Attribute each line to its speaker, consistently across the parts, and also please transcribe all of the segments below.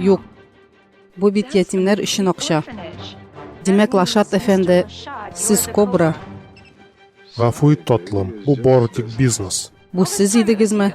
Speaker 1: Юк. Бу бит ятимнәр өчен акча. Димәк, Лашат әфәнде, сез кобра. Гафу ит, татлым, бу бары тик бизнес. Бу сез идегезме?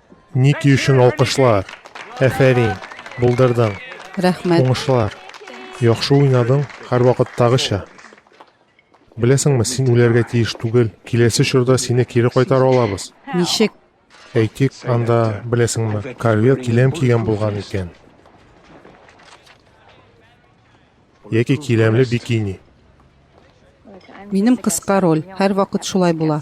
Speaker 1: Ники өчен алкышлар? Әфәрин, булдырдың. Рәхмәт. Уңышлар. Яхшы уйнадың, һәрвакыттагыча. Беләсеңме, син үләргә тиеш түгел. Киләсе чорда сине кире кайтара алабыз. Ничек? Әйтик, анда, беләсеңме, корвет киләм кигән булган икән. Яки киләмле бикини. Минем кыска роль, һәрвакыт шулай була.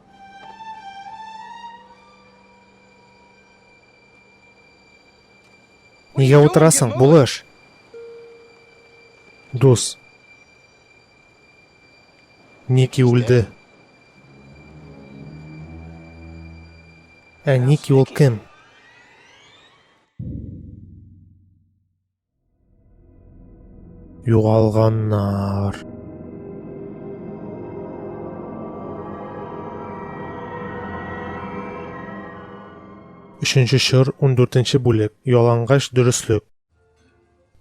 Speaker 1: Нигә утырасың, булыш? Дус. Ники үлде. Ә Ники ул кем? Югалганнар. Өченче чор, 14 бүлек, ялангач дөреслек.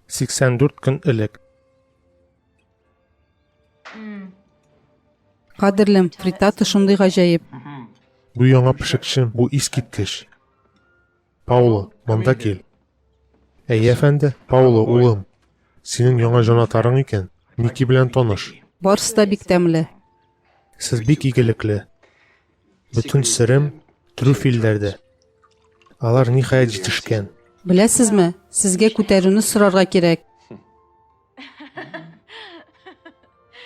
Speaker 1: 84 көн элек. Кадерлем, фритата шундый гаҗәеп. Бу яңа пешекче, бу искиткеч. Пауло, монда кил. Әй, әфәнде, Пауло, улым, синең яңа җанатарың икән, Ники белән таныш. Барсы да бик тәмле. Сез бик игелекле. Бөтен серем трюфельләрдә. Алар ниһаять җитешкән. Беләсезме, сезгә күтәрүне сорарга кирәк.